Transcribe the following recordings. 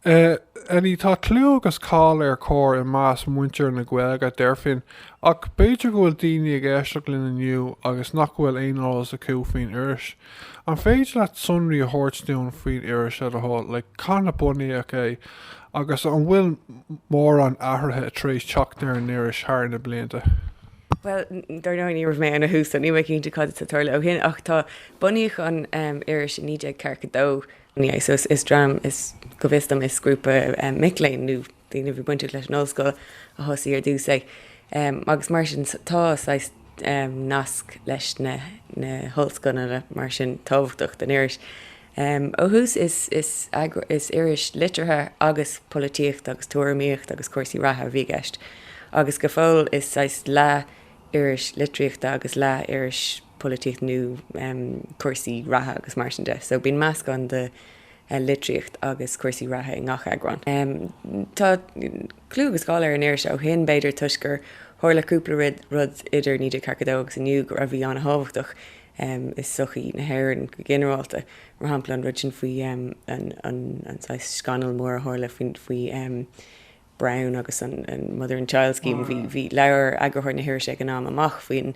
Éin, tá clú agus cáil ar Chomhar i measc muintir na Gaeilge, deirfinn. Ach b'fhéidir go bhfuil daoine ag éisteacht linn inniu agus nach bhfuil aon eolas acu faoin iris. An féidir leat sonraí a thabhairt dúinn faoin iris, le do thoil? Like, cathain a bunaíodh é? Agus an bhfuil mórán athruithe tar éis teacht ar an iris thar na blianta? Bhuel, dár ndóigh, ní raibh mé ann ó thús, so níl mé cinnte cad a tharla ó shin. Ach tá, bunaíodh an iris i 1942. So is dream, is go bhfios dom is grúpa mic léinn nó daoine a bhí bainteach leis an ollscoil a thosaigh ar dtús é agus mar sin tá saghas nasc leis na hollscoileanna mar sin tábhachtach don iris. Ó thús is iris liteartha agus polaitíochta agus tuairimíochta agus cúrsaí reatha a bhí i gceist agus go fóill is saghas leath iris litríochta agus leath iris polaitíocht nó cúrsaí reatha agus mar sin de. So bíonn meascán de litríocht agus cúrsaí reatha i ngach eagrán. Tá clú agus cáil ar an iris ó shin, b'fhéidir toisc gur tharla cúpla rud idir 1942 agus inniu a bhí an-tábhachtach i sochaí na hÉireann go ginearálta, mar shampla an rud sin faoi an saghas scannal mór a tharla faoi Browne agus an Mother and Child Scheme. Bhí, labhair eagarthóir na hirise ag an am amach faoin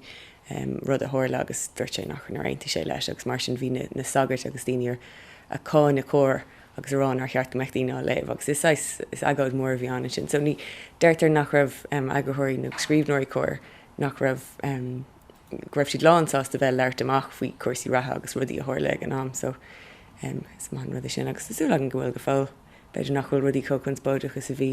rud a tharla agus dúirt sé nár aontaigh sé leis agus mar sin bhí na sagairt agus daoine ag cáineadh Comhar agus ag rá nár cheart go mbeadh daoine á léamh agus is saghas agóid mhór a bhí ann ansin. So deirtear nach raibh eagarthóirí nó scríbhneoirí Comhar, nach raibh, go raibh siad lán sásta bheith ag labhairt amach faoi chúrsaí reatha agus rudaí a tharla ag an am. So is maith an rud é sin agus tá súil againn go bhfuil go fóill. b'fhéidir nach bhfuil rudaí chomh conspóideach is a bhí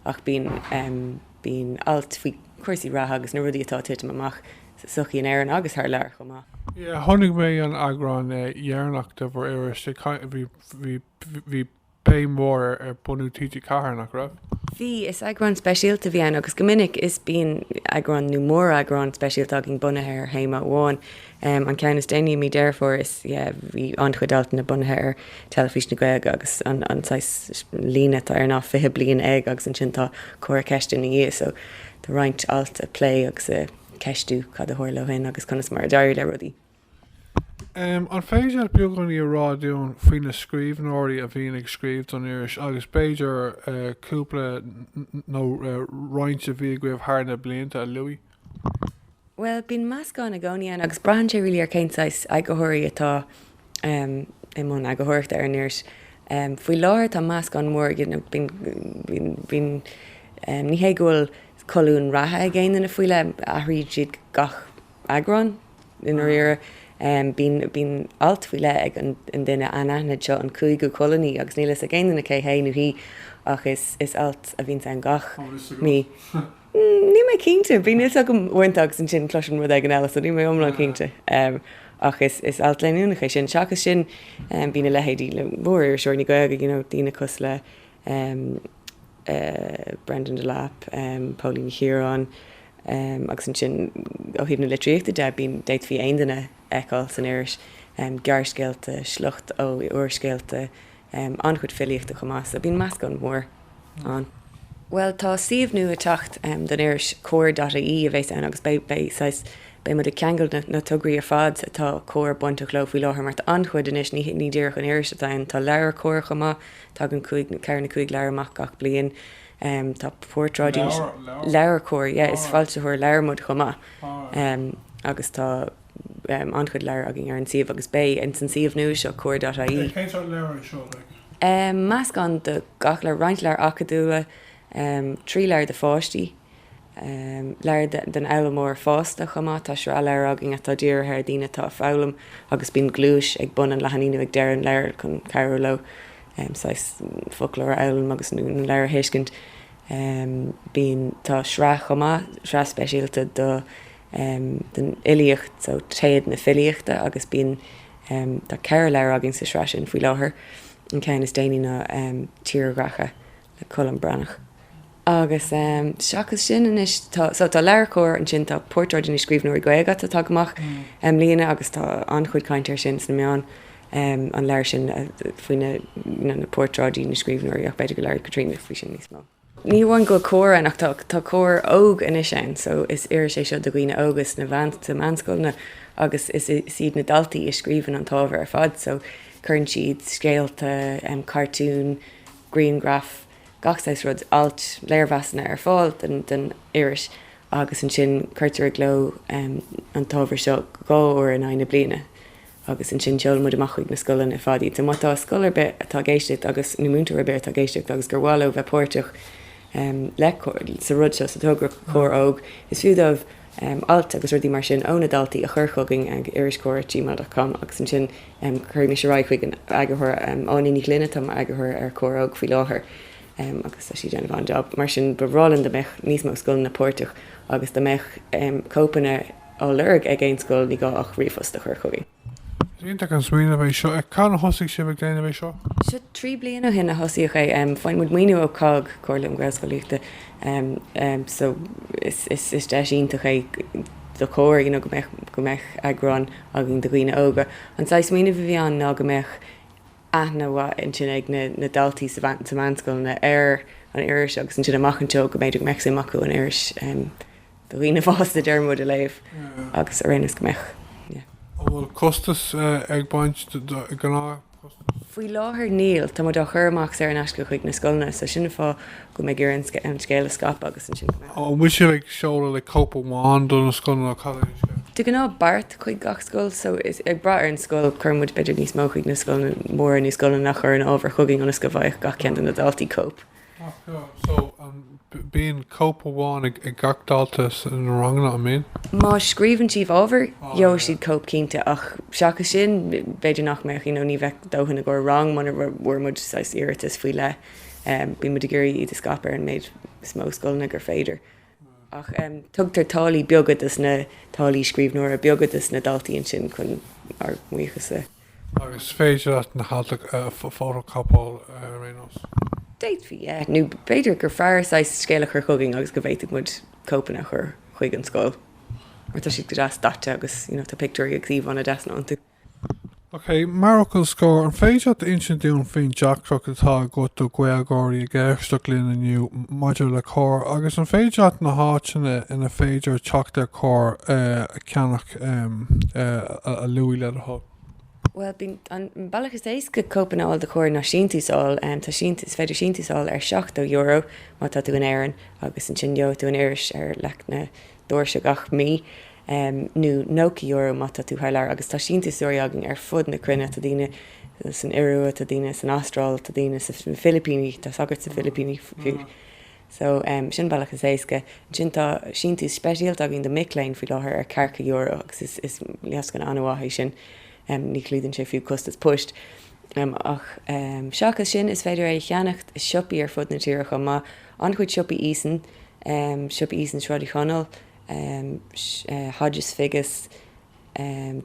ach bíonn, bíonn ailt faoi chúrsaí reatha agus na rudaí atá ag titim amach sa sochaí in Éirinn agus thar lear chomh maith. Yeah, chonaic mé an eagrán deireanach de bhur n-iris, bhí, bhí, bhí, bhí plé mór ar, ar bunú TG4, nach raibh? Bhí, is eagrán speisialta a bhí ann agus go minic is, bíonn eagrán nó mór-eagrán speisialta againn bunaithe ar théama amháin. Um an ceann is déanaí i mí Deireadh Fómhair is ea bhí an-chuid altanna bunaithe ar Teilifís na Gaeilge agus an an saghas líne atá air ná 'fiche bliain ag' agus ansin tá comhartha ceiste ina dhiaidh so tá roinnt alt ag plé agus ag ceistiú cad a tharla ó shin agus conas mar a d'éirigh le rudaí. Um an féidir leat beagáinín a rá dúinn faoi na scríbhneoirí a bhíonn ag scríobh don iris agus b'fhéidir cúpla nó roinnt a bhí agaibh thar na blianta a lua? Bhuel, bíonn meascán i gcónaí ann agus braitheann sé really ar cén saghas eagarthóirí atá i mbun eagarthóireachta ar an iris. Faoi láthair tá meascán mór, you know, bíonn, bíonn, bíonn, ní hé go bhfuil colúin reatha ag aon duine faoi leith, athraíonn siad gach eagrán i ndáiríre. Bíonn, bíonn alt faoi leith ag an duine anaithnid seo, an cúigiú colúnaí, agus níl a fhios ag aon duine cé hé nó hí ach is, is alt a bhíonns ann gach mí. Mm, níl mé cinnte. Bíonn a fhios agam uaireanta agus ansin cloisim rud éigin eile, so níl mé iomlán Ah. cinnte. Em, ach is, is alt leanúnach é sin. Seachas sin, em, bíonn a leithéidí mór-iriseoirí na Gaeilge, you know, daoine cosúil le, em, eh, Breandán Delap, em, Póilín Ní Chiaráin, em, agus ansin ó thaobh na litríochta de, bíonn, d'fhéadfaí aon duine a fheiceáil san iris, em, gearrscéalta, sliocht ó úrscéalta, Em, an-chuid filíochta chomh maith, so bíonn meascán mór ann. Bhuel tá suíomh nua ag teacht, em, don iris, Comhar dot IE a bheas ann agus beidh, beidh saghas, beidh muid ag ceangal na, na tograí ar fad atá Comhar bainteach leo faoi láthair mar tá an-chuid anois, ní, ní díreach an iris atá ann, tá LeabhairCOMHAR chomh maith, tagann cúig, ceithre nó cúig leabhar amach gach bliain, em, tá portráidí, LeabhairCOMHAR, yeah, is foilsitheoir leabhar muid chomh maith, em, agus tá. an-chuid leabhar againn ar an suíomh agus beidh ins an suíomh nua seo, Comhar.ie. Meascán de gach, roinnt leabhar acadúla, trí leabhar do pháistí, leabhar don fhoghlaimeoir fásta chomh maith. Tá sraith leabhar againn atá dírithe ar dhaoine atá ag foghlaim agus bíonn gluais ag bun an leathanaigh nó ag deireadh an leabhair chun cabhrú leo saghas foclóir a fhoghlaim agus, nó an leabhar a thuiscint. Bíonn, tá sraith chomh maith, sraith speisialta do em, den fhilíocht so Téad na Filíochta agus bíonn, em, tá ceithre leabhar againn sa sraith sin faoi láthair, an ceann is déanaí ná, em, Tírdhreacha le Colm Breathnach. Agus, em, seachas sin anois tá, so tá LeabhairCOMHAR ansin tá Portráidí na Scríbhneoirí Gaeilge a tháinig amach i mbliana agus tá an-chuid cainte ar sin sna meáin, em, an leabhar sin faoi na, you know, na portráidí na scríbhneoirí ach b'fhéidir go labhróidh Caitríona faoi sin níos mó. Ní hamháin go bhfuil Comhar ann ach tá Comhar Óg anois ann so is iris é seo do dhaoine óga sna meánscoileanna agus is iad na daltaí a scríobhann an t-ábhar ar fad so cuireann siad scéalta, cartúin, grianghraif, gach saghas rud, ailt, léirmheasanna ar fáil don iris agus ansin cuirtear i gcló an t-ábhar seo dhá uair in aghaidh na bliana. agus ansin sheol muid amach chuig na scoileanna ar fad iad. So má tá scoil ar bith atá ag éisteacht agus, nó múinteoir ar bith atá ag éisteacht agus gur mhaith leo bheith páirteach leis, sa rud seo, sa togra Comhar Óg, is fiú dóibh alt agus rudaí mar sin ó na daltaí a chur chugainn ag iriscomhar@gmail.com agus ansin cuirfidh mise ar aghaidh chuig an eagarthóir, Áine Ní Ghlinn atá mar eagarthóir ar Comhar Óg faoi láthair agus tá sí ag déanamh an-jab. Mar sin ba bhreá linn dá mbeadh níos mó scoileanna páirteach agus dá mbeadh cóipeanna, á lorg ag aon scoil ní gá ach ríomhphost a chur chugainn. Is iontach an smaoineamh é seo. Agus cathain a thosaigh sibh ag déanamh é seo? Seo trí bliana ó shin a thosaíodh é. Faigheann muid maoiniú ó COGG, Comhairle um Ghaelscolaíochta, so is deis iontach é do Chomhar you know go mbeadh eagrán againn do dhaoine óga. An saghas smaoineamh a bhí ann ná go mbeadh aithne mhaith ansin ag na daltaí sna meánscoileanna ar an iris agus ansin amach anseo go mb'fhéidir go mbeadh suim acu an iris a do dhaoine fásta déarfaidh muid a léamh agus araon is go mbeadh yeah. An bhfuil costas ag baint gnáth costas? Faoi láthair níl. Tá muid á chur amach saor in aisce chuig na scoileanna so sin an fáth go mbímid ag iarraidh an scéal a scaipeadh agus ansin go mbeadh. An bhfuil sibh ag seoladh like cóip amháin do na scoileanna nó cad é an scéal? De ghnáth beart chuig gach scoil so is ag brath ar an scoil cuireann muid b'fhéidir níos mó chuig na scoileanna móra nó na scoileanna a chuireann ábhar chugainn ionas go bhfaigheadh gach ceann de na daltaí cóip. Bíonn cóip amháin ag gach dalta sna ranganna, an mbíonn? Má scríobhann siad ábhar, gheobhaidh siad cóip cinnte, ach seachas sin, b'fhéidir nach mbeadh, you know ní bheadh dóthain i gcomhair rang muna bhfuair muid saghas iarratas faoi leith. Bíonn muid ag iarraidh iad a scaipeadh ar an méid is mó scoileanna gur féidir. Ach tugtar táillí beaga dos na, táillí scríbhneora beaga dos na daltaí ansin chun ár mbuíochas a ghabháil. Agus is féidir leat na hailt a fhótachóipeáil ar aon nós? D'fhéadfaí, yeah. Nó b'fhéidir gur fearr saghas scéal a chur chugainn agus go bhféadfadh muid cóipeanna a chur chuig an scoil. Mar tá siad go deas daite agus you know tá pictiúirí agus íomhánna deasa iontu. OK, mar fhocal scoir, an féidir leat insint dúinn faoin tairiscint atá agat do Ghaeilgeoirí ag éisteacht linn inniu maidir le Comhar agus an féidir leat na háiteanna ina féidir teacht ar Chomhar a cheannach a lua le do thoil? Bhuel, bíonn, an bealach is éasca cóip a fháil de Chomhar ná síntiús a fháil. Tá síntiús, is féidir síntiús a fháil ar €70 má tá tú in Éirinn agus ansin gheobhaidh tú an iris ar leac na dorais gach mí, nó nócha euro má tá tú thar lear agus tá síntiúsóirí againn ar fud na cruinne, tá daoine san Iorua, tá daoine san Astráil, tá daoine sna Filipíní, tá sagart sna Filipíní fiú, so sin an bealach is éasca. Ansin tá síntiús speisialta againn do mic léinn faoi láthair ar tríocha euro agus is lascaine an-mhaith é sin, ní chlúdaíonn sé fiú costas poist. Ach seachas sin, is féidir é a cheannacht i siopaí ar fud na tíre chomh maith, an-chuid siopaí Eason, siopa Eason Sráid Uí Chonaill, Hodges Figgis,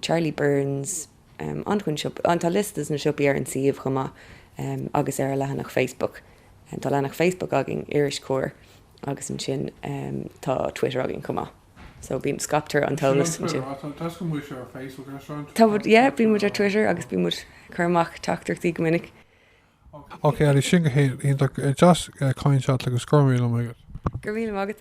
Charlie Byrne's, tá liosta de na siopaí ar an suíomh chomh maith agus ar an leathanach Facebook. Tá leathanach Facebook againn, Iris Comhar, agus ansin tá Twitter againn chomh maith. So bíonn, scaiptear an t-eolas ansin. Tá muid, yeah, bíonn muid ar Twitter agus bíonn muid cur amach teachtaireachtaí go minic. Ok Eilidh, sin go h-iontach deas caint leat agus go raibh míle maith agat. Go raibh míle maith agat.